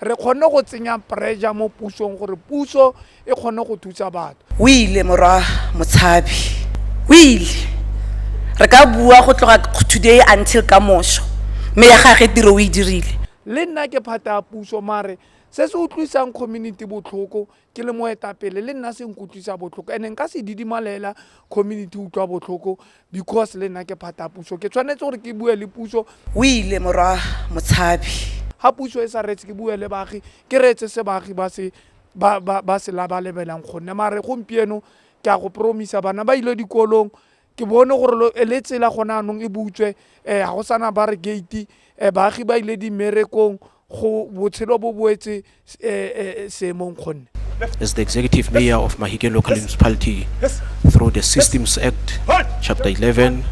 Re kgonne go tsenya pressure mo pusong gore puso e kgone go thusa batho. O ile, Morwa Motshabi. O ile, Re ka bua go tloga today until ka moso, mme ya gage tiro o e dirile. Le nna ke phate ya puso, mare se se utlwisang community botlhoko ke le moetapele le nna se nkutlwisa botlhoko and-e nka se didimalela community utlwa botlhoko because le nna ke phata puso ke tshwanetse gore ke bue le puso o ile morwa motshabi ga puso e sa retse ke bue le baagi ke reetse se baagi ba se ba se labalebelang gonne mare gompieno ke a go promisa bana ba ile dikolong ke bone gore le tsela gone anong e butswe um ga go sana ba re gate um baagi ba ile dimmerekong go botshelo bo boetse um seemong kgonne As the executive mayor of Mahike local municipality, through the Systems Act, Chapter 11,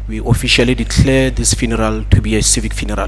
we officially declare this funeral to be a civic funeral.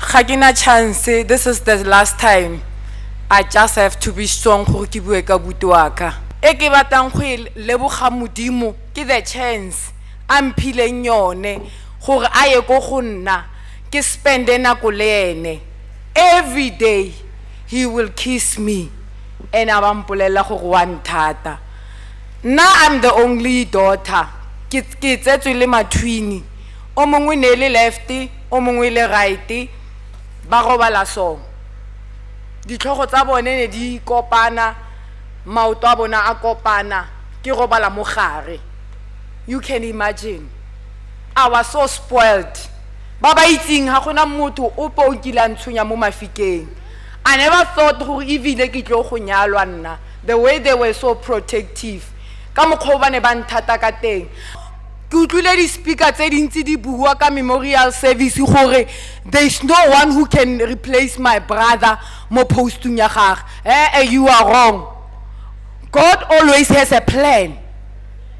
ga ke na chance this is the last time i just have to be strong gore ke bue ka buti wa ka e ke batlang go e leboga modimo ke the chance a mphileng yone gore a ye ko go nna ke spende nako le ene every day he will kiss me and a ba mpolelela gore wa nthata nna i'm the only daughter ke tsetswe le mathwini o mongwe ne le lefty o mongwe le right ba robala so ditlhogo tsa bone ne di kopana maoto a bona a kopana ke robala mo gare you can imagine I was so spoiled ba ba itseng ga gona motho o po o kile a ntshonya mo mafikeng I never thought gore ebile ke tlo go nyalwa nna the way they were so protective ka mokgwa o ba ne ba nthata ka teng Ke utlwile di-speaker tse dintsi di bua ka memorial service gore there's no one who can replace my brother mo postung ya gage ee you are wrong god always has a plan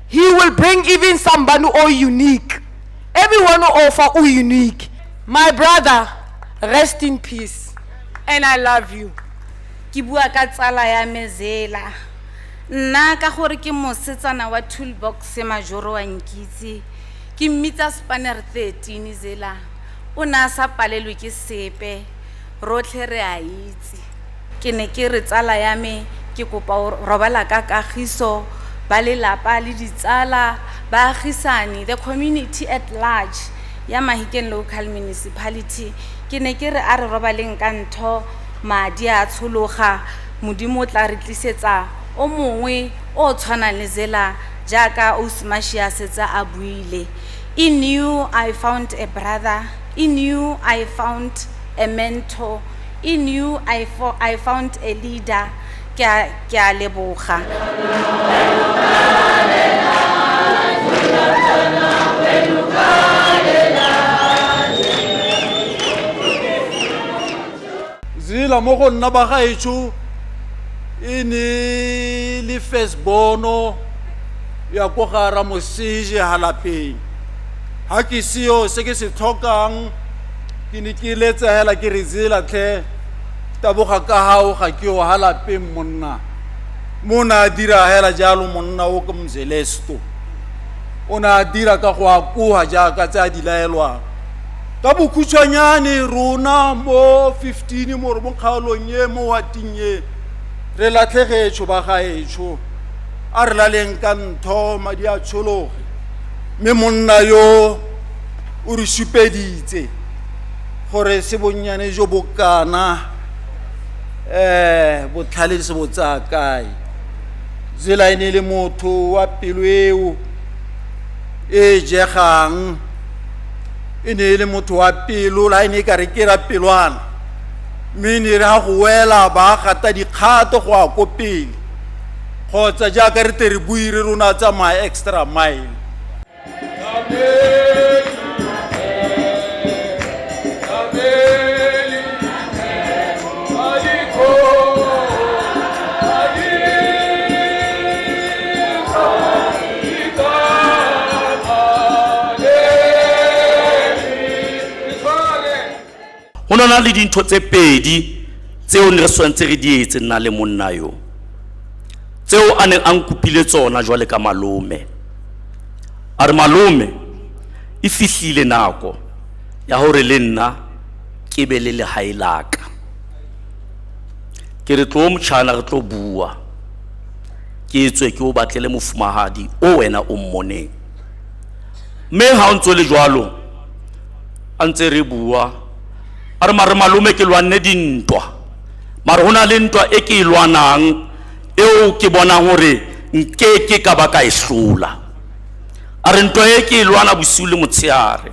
he will bring even somebody o unique everyone o fa o unique my brother rest in peace and i love you ke bua ka tsala ya me zela Nna ka gore ke mosetsana wa toolbox majoro wa nkitse, ke mmitsa spanner 13 zela, o ne a sa palelwe ke sepe, rotlhe re a itse. Ke ne ke re tsala ya me ke kopa o robala ka kagiso, ba lelapa le ditsala, baagisani, the community at large ya Mahikeng Local Municipality, ke ne ke re a re robaleng ka ntho, madi a tshologa, Modimo o tla re tlisetsa o mongwe o o tshwanang le Zela jaaka Ausi Mashie a setse a buile. In you I found a brother, in you I found a mentor, in you I, fo, I found a leader. Ke a, ke a leboga. Zila mo go nna ba gaetsho e ne le fesbono ya ko ga Ramoseje halapeng. Ha ke seo se ke se tlhokang ke ne ke letsa hela ke re Zila tlhe taboga ka hao ga ke o halapeng monna. Mo na dira hela jalo monna o ke Mzelesto. O ne a dira ka go akoha jaaka tse a di laelwang. ka bokhutshwanyane rona mo 15 mo mo kgaolong e mo wating e re latlhegetsho ba gaetsho a re laleng ka ntho madi a tshologe mme monna yo o re supeditse gore se bonnyane jo bokana um botlhale se bo tsaya kae zela e ne e le motho wa pelo eo e jegang e ne e le motho wa pelo la e ne e ka re ke ra pelwana mme e ne e re ga go wela ba gata dikgato go ya ko pele kgotsa jaaka re tle re bui re rona tsamaya extra mile go ne na le dintho tse pedi tseo ne re tshwanetse re di etse nna le monna yo tseo a neng a nkopile tsona jwale ka malome a re malome e fihlile nako ya gore le nna ke be le legae laka ke re tlo motšhana re tlo bua ke tswe ke o batlele mofumagadi o wena o mmoneng mme ga o ntse le jalo a ntse re bua a re mare malome ke lwanne dintwa mare go na le ntwa e ke e lwanang eo ke bonang gore nke ke ka ba ka e hlola a re ntwa e ke e lwana bosiu le motshegare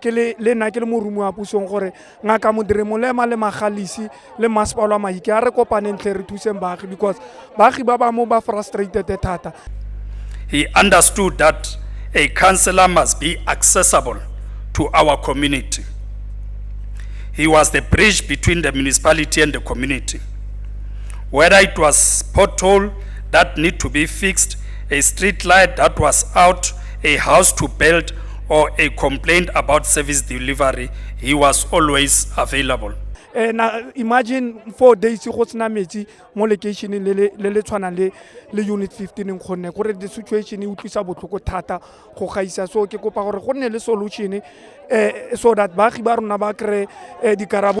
ke le le nna ke le morumo wa pusong gore ngaka modire molema le magalisi le masepalo a maike a re kopaneng tlhe re thuseng baagi because baagi ba bangwe ba frustrated thata he understood that a counselor must be accessible to our community he was the bridge between the municipality and the community whether it was pothole that need to be fixed a street light that was out a house to build or a complaint about service delivery, he was always available. Eh, na imagine four days go sena metsi mo locationeng le le- le le tshwanang le le unit 15 kgonne gore the situation e utlwisa botlhoko thata go gaisa so ke kopa gore go nne le solution eh, so that baagi ba rona ba kry-e eh, dikarabo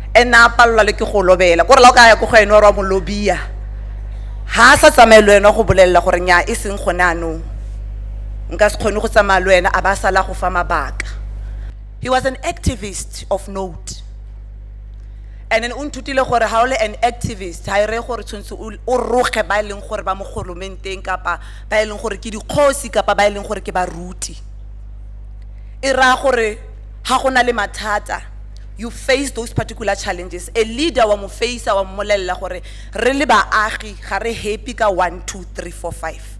ene a palelwa le ke go lobela kore la o ka ya ko go ene wa re wa mo lobia ga a sa tsamaye le wena go bolelela gore nya e seng gone anong nka se kgone go tsamaya le wena a ba a sala go fa mabaka he was an activist of note and then o nthutile gore ga o le an activist ga e reye gore tshwanetse o o roge ba e leng gore ba mo golomenteng kapa ba e leng gore ke dikgosi kapa ba e leng gore ke baruti e raya gore ga go na le mathata you face those particular challenges, a leader wa mo face-a wa mmolelela gore re le baagi ga re happy ka one, two, three, four, five.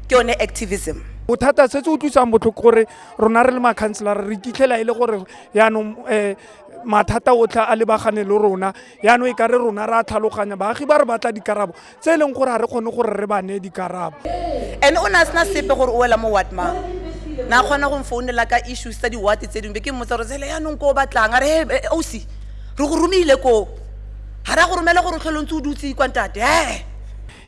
Ke yone activism. Bothata se se utlwisang botlhoko gore rona re le makhanselara re iphitlhela e le gore yaanong um mathata otlhe a lebagane le rona, yaanong e ka re rona re a tlhaloganya baagi ba re batla dikarabo tse e leng gore ga re kgone gore re ba ne dikarabo and o ne a sena sepe gore o wela mo watmang na kgona go mfounela ka issues tsa diwate tse dingwe be ke mmotsa gore tsele yaanong ko o batlang a re he osi eh, re go romile koo ga ra go romela gore tlhole ntse o dutse kwa ntate he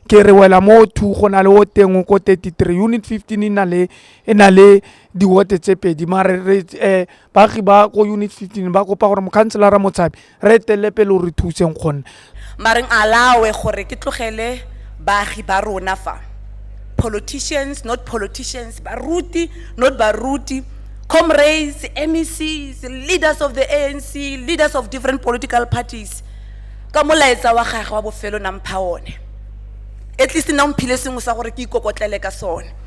ke re wela mo two go na le o teng ko 33 unit 15 e na le e na le diwote tse pedi mare re eh baagi ba ko unit 15 ba kopa gore mokhanselara motshabi re etelele pele o re thuseng gonne mareng alawe gore ke tlogele baagi ba rona fa politicians not politicians baruti not baruti comrades mecs leaders of the anc leaders of different political parties ka molaetsa wa gage wa bofelo nampha one at least na mphile sengwe sa gore ke ikokotlele ka sone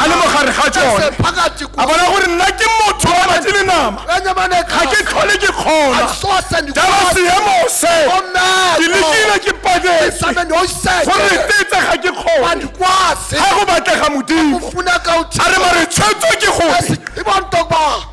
a le mogare ga tsone a bona gore nna ke motho wa batsi le nama ga ke tlhole ke kgona jalo seemo se ke lekile ke patetse gore tetse ga ke kgone ga go batlega modimo a re mare tshwetso ke gore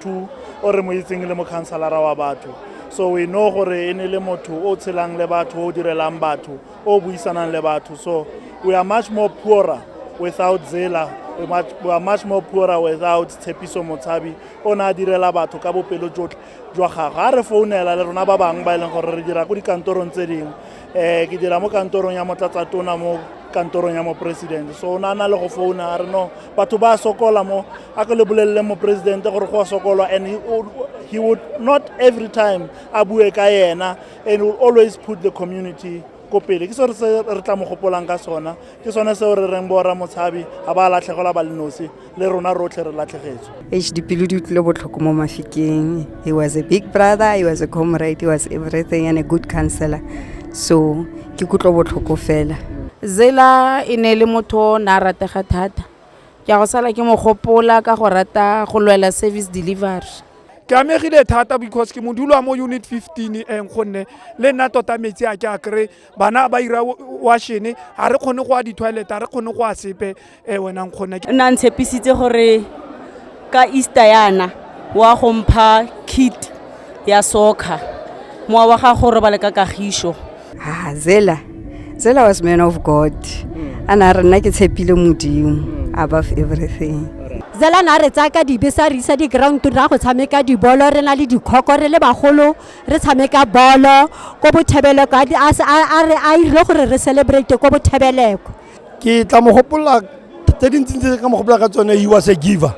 two o re mo itseng le mokhansalara wa batho so we know gore e ne le motho o tshelang le batho o direlang batho o buisanang le batho so we are much more poorer without zela we much, we are much more poorer without tshepiso motshabi o ne a direla batho ka bopelo jotlhe jwa gagwe a re founela le rona ba bangwe ba e leng gore re dira ko dikantorong tse dingwe um ke dira mo kantorong ya motlatsatona mo kantorong ya moporesidente so o ne a na le go founa a re no batho ba sokola mo a ke le bolelele moporesidente gore go a sokolwa and he, he would not every time a bue ka yena and will always put the community ko pele ke seo se re tla mo gopolang ka sona ke sone seo re reng bora motshabi ga ba latlhegelwa ba lenosi le rona rotlhe re latlhegetswe h dipelo di utlwile botlhoko mo mafikeng he was a big brother he was a comrade he was everything and a good counselor so ke kutlo botlhoko fela zela e ne le motho na ratega thata Ke a go sala ke mo gopola ka go rata go lwela service delivery. Ke amegile thata because ke modulwa mo unit 15 eng gonne le nna tota metsi a ke a kry bana ba ira washene ga re kgone go a di-toilet ga re kgone go a sepe um wena nkgonne nna ntshepisitse gore ka easter yana wa go mpha kit ya soccer mowa wa gago o robale ka kagišo ha zela zela was man of god a na re nna ke tshepile modimo above everything zela na re tsaya ka dibe sa re isa di-ground ra go tshameka dibolo re na le dikhoko re le bagolo re tshameka bolo ko bothebeleko a se- a- a re- a 'irile gore re celebrate ko bothebeleko ke tla mo gopolola tse dintsi tse ka mo gopolola ka tsone you was a giver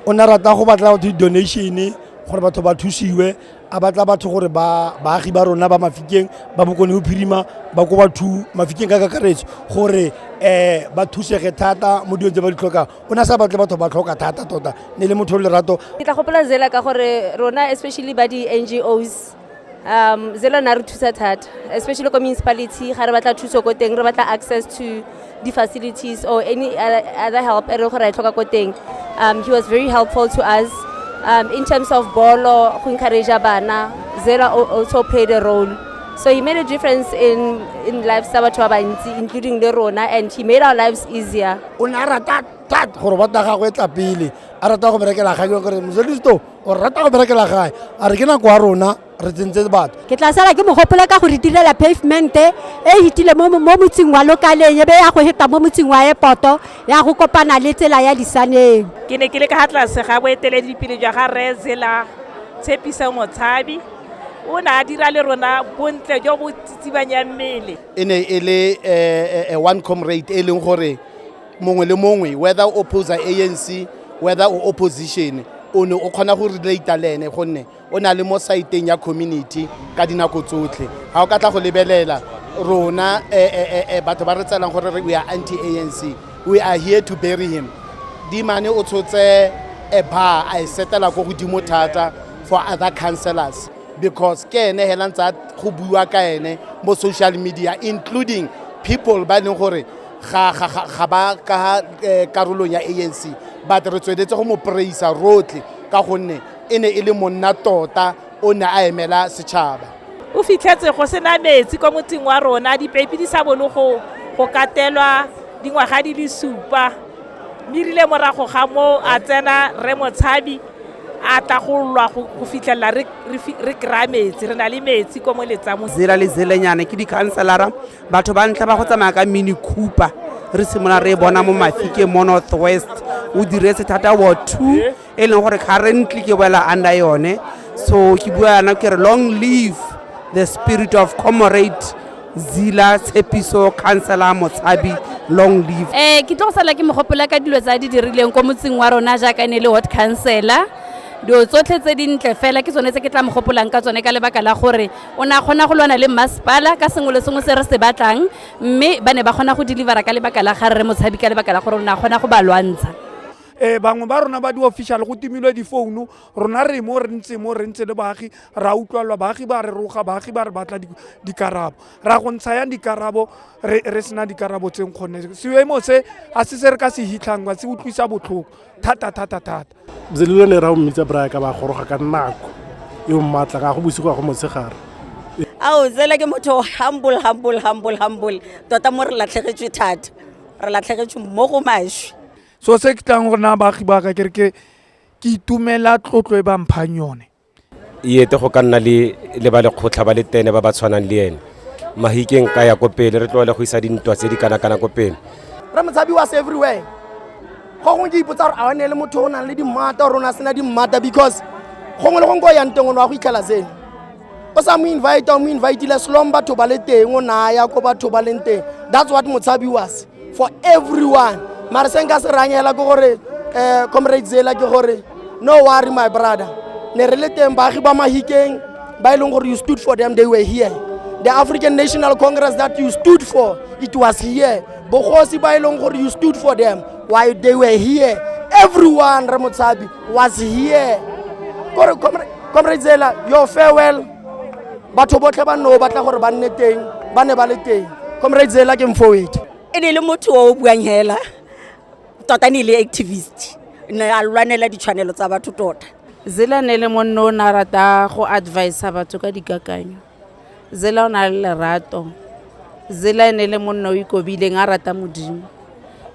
o ne rata go batla batho di-donation gore batho ba thusiwe a batla batho gore baagi ba rona ba mafikeng ba bokone go phirima ba ko batho mafikeng ka kakaretso gore um ba thusege thata mo dilong tse ba di tlhokang o ne a sa batle batho ba tlhoka thata tota ne le motho o lerato ke tla gopola zela ka gore rona especially ba di-n g os um zelo na re thusa thata especially ko municipality ga re batla thuso ko teng re batla access to di-facilities or any other help e re gore e tlhoka ko teng um he was very helpful to us um in terms of bolo go encourage bana zela also played a role so he made a difference in in lives tsa batho ba bantsi including le rona and he made our lives easier o ne a rata thata gore bota gagwe e tla pele a rata go berekela kgang gore moselisto o rata go berekela gae a re ke nako ya rona re tsentse batho ke tla sala ke mogopole ka go re direla pavemente e hitile mo motseng wa lokaleng ebe ya go heta mo motseng wa epoto ya go kopana le tsela ya disaneng ke ne ke le ka ga tlase ga boeteledipele jwa ga re zela tshepiso motshabi o ne a dira le rona bontle jo bo tsitsibanyang mmele e ne e le um one comrade e leng gore mongwe le mongwe whether o opposa anc whether o opposition o ne o kgona go relata le ene gonne o na le mo saeteng ya community ka dinako tsotlhe ga o ka tla go lebelela rona eh, eh, eh, batho ba re tselang gore we are anti anc we are here to bury him dimane o tshotse a bar a e setela ko godimo thata for other councellors because ke ene hela ntse go buiwa ka ene mo social media including people ba e leng gore ga ga ga ga ba ka eh, karolong ya anc but re tsweletse go mo praisa rotlhe ka gonne e ne e le monna tota o ne a emela setšhaba o fitlhetse go sena metsi kwa motseng wa rona dipeipi di sa bone go go katelwa dingwaga di le supa mme rile morago ga moo a tsena re motshabi a tla go lwa go go fitlhelela re- re fi- re kry-a metsi re na le metsi kwa mo letsamong zela le zelenyane ke dikhanselara batho ba ntlha ba go tsamaya ka mini cooper re simolola re e bona mo mafike mo north west o diretse thata wa two e leng gore currently ke boela under yone so ke bua yana ke re long live the spirit of comrade zila tshepiso councilor motshabi long live eh ke tlo go sala ke mogopola ka dilo tsa di dirileng ko motseng wa rona jaaka ne le hot councilor dilo tsotlhe tse dintle fela ke tsone tse ke tla mogopolang ka tsone ka lebaka la gore o ne a kgona go lwana le mmasepala ka sengwe le sengwe se re se batlang mme ba ne ba kgona go delivera ka lebaka la ga rre motshabi ka lebaka la gore o ne a kgona go ba lwantsha um bangwe ba rona ba di-official go timilwe difounu rona re mo re ntse mo re ntse le baagi ra utlwalwa baagi ba re roga baagi ba re batla dikarabo ra go ntsha yang dikarabo re sena dikarabo tseng kgone seemo se a se se re ka se hitlhangwa se utlwisa botlhoko thata thata thata zelilo le ra o mmitsa braya ka ba goroga ka nako e o mmatla ga go bosigo ya go motshegare ao tsela ke motho humble humble humble humble tota mo re latlhegetswe thata re latlhegetswe mo go maswi so se ke tlang gore na baagi ba ka kere ke itumela tlotlo e ba mphang yone iyete go ka nna le le ba lekgotlha ba le tene ba ba tshwanang le ene mahikeng ka ya ko pele re tlogele go isa dintwa tse di kana-kana ko pele re motshabi was everywhere gongwe ke ipotsa gore a one le motho o nang le dimmata gore o ne a sena dimmata because gongwe le gongwe ko yang teng o ne wa go itlhela seno o sa mo invite o mo invitile selong batho ba le teng o naya ko batho ba leng teng that's what motshabi was for everyone mara se nka se rangela ke gore um comrade zela ke gore no worry my brother ne re le teng baagi ba mahikeng ba e leng gore you stood for them they were here the african national congress that you stood for it was here bogosi ba e leng gore you stood for them why they were here everyone re motshabi was here kore comrade zela your farewell batho botlhe ba nne o batla gore ba nne teng ba ne ba le teng comrade zela ke mfowete e ne le motho o buang hela tota ne e le activist ne a lwanela ditshwanelo tsa batho tota zela ne le monne o ne a rata go advisa batho ka dikakanyo zela o na le lerato zela e ne le monne o ikobileng a rata modimo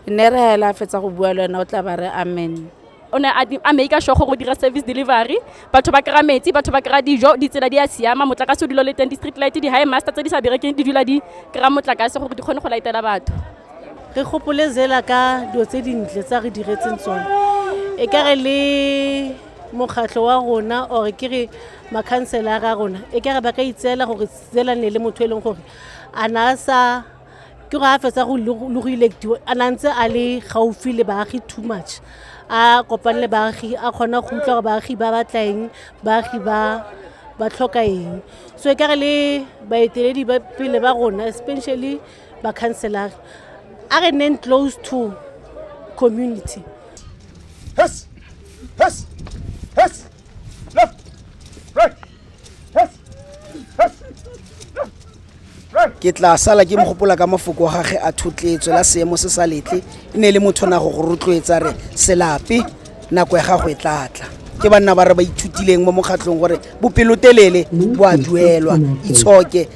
ne re hela a fetsa go bua le wena o tla ba re amen o ne a make-a sure gore o dira service delivery batho ba kry-a metsi batho ba kry-a dijo ditsela di a siama motlakase o dilo le teng di-street light di-high master tse di sa berekeng di dula di kry-a motlakase gore di kgone go laetela batho re gopole zela ka dilo tse dintle tsa re diretseng tsone e ka re le mokgatlho wa rona or ke re makhanselara a rona e ka re ba ka itseela gore zela ne le motho e leng gore a na a sa ke go a fetsa go le go electiwa a na ntse a le gaufi le baagi too much a kopane le baagi a kgona go utlwa gore baagi ba batla eng baagi ba ba tlhoka eng so e kare le baeteledi ba pele ba rona especially ba-councelare a re neng close to community yes. Yes. Yes. Left. Right. ke tla sala ke mogopola ka mafoko a gage a thotletso la seemo se sa letle e ne e le motho na go go rotloetsa re selape nako ya gago e tlatla ke banna ba re ba ithutileng mo mokgatlhong gore bopelotelele bo a duelwa itshoke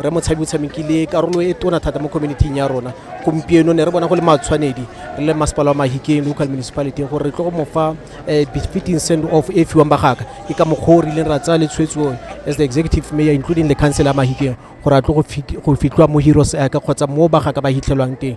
Rre Motshabi o tshamekile karolo e tona thata mo community-ing ya rona gompieno ne re bona go le matshwanedi re le masepala wa mahikeng local municipality gore re tlo go mo fa um befitting send off e fiwang bagaka ke ka mokgwa o rileng ra tsaya le tshwetso as the executive mayor including le council ya mahikeng gore a tlo go fit- go fitlwa mo heroes aka kgotsa mo bagaka ba hitlhelwang teng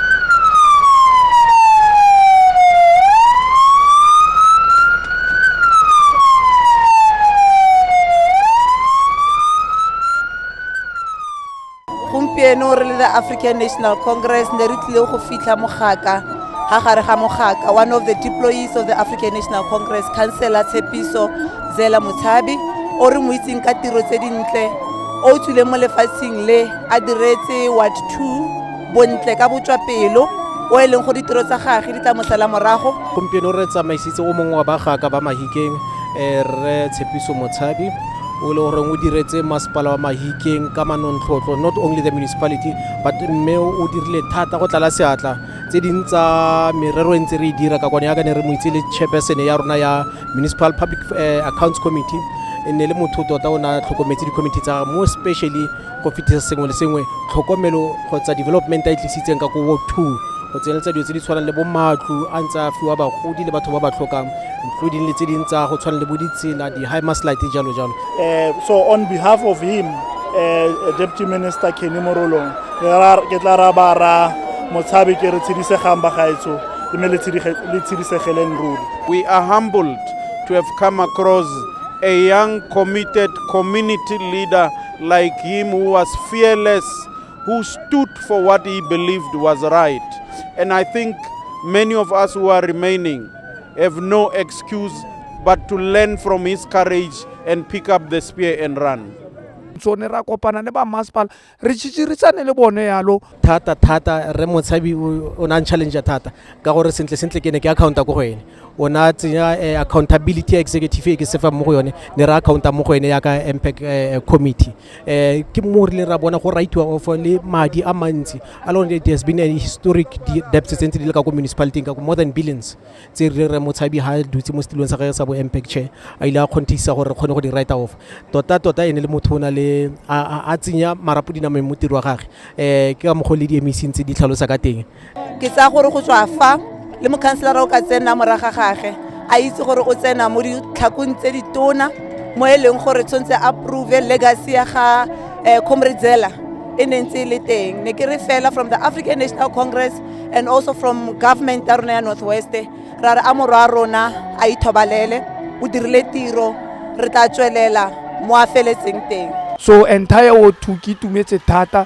gompieno re le the african national congress ne re tlile go fitlha mogaka ga gare ga mogaka one of the deployees of the african national congress councilor tshepiso zela motshabi o re mo itseng ka tiro tse dintle o tswileng mo lefatsheng le a diretse ward two bontle ka botswapelo o e leng go ditiro tsa gage di tla mosala morago gompieno re tsamaisitse o mongwe wa bagaka ba mahikeng eh, re tshepiso motshabi o le goreng o diretse masepala wa mahikeng ka manontlhotlho not only the municipality but mme o dirile thata go tlala seatla tse ding tsa merero e ntse re e dira ka kwane yaka ne re mo itse le chairperson ya rona ya municipal public eh, accounts committee e ne le motho tota o ne a tlhokometse di-committee tsa mo especially go fetisa sengwe le sengwe tlhokomelo kgotsa development a e tlisitseng ka ko ward two go tsenyeletsa dilo tse di tshwanang le bo matlo a ntse a fiwa bagodi le batho ba ba tlhokang including le tse ding tsa go tshwana le bo ditsela di-high maslight jalo jalo Eh, so on behalf of him eh, deputy minister kenny morolong re ra- ke tla ra ba ra motshabe ke re tshidisegang bagaetsho mme le tshidige- le tshidisegeleng ruri We are humbled to have come across a young, committed community leader like him who was fearless, who stood for what he believed was right. And I think many of us who are remaining have no excuse but to learn from his courage and pick up the spear and run. tsone ra kopana le ba masepala re tšhitširisane le bone yalo thata thata re motshabi o ne a challenge thata ka gore sentle sentle ke ne ke accounta ko go ene o ne a tsenya eh, accountability executive e ke sefa mo go yone ne re accounta mo go ene yaka mpac eh, committee um ke mo rileng ra bona go rightiwa of le madi a mantsi a lone it has been a historic debt tse ntse di le ka ko municipality ka ko more than billions tse re re motshabi ha dutse mo setilong sa gage sa bo mpac chair a ile a kgontisa gore re kgone go di righta off tota tota ene le motho o na le a tsenya marapo dinameng mo tiro wa gage um ke ka mokgwa le di emeseng tse di tlhalosa ka teng ke tsaya gore go tswa fa le mokhanselara o ka tsena moraga gage a itse gore o tsena mo ditlhakong tse di tona mo e leng gore tshwanetse a prove legacy ya ga um eh, comradzela e ne ntse e le teng ne ke re fela from the african national congress and also from government ya rona ya north west ra re a morwa a rona a ithobalele o dirile tiro re tla tswelela mo a feletseng teng so entire o two ke itumetse thata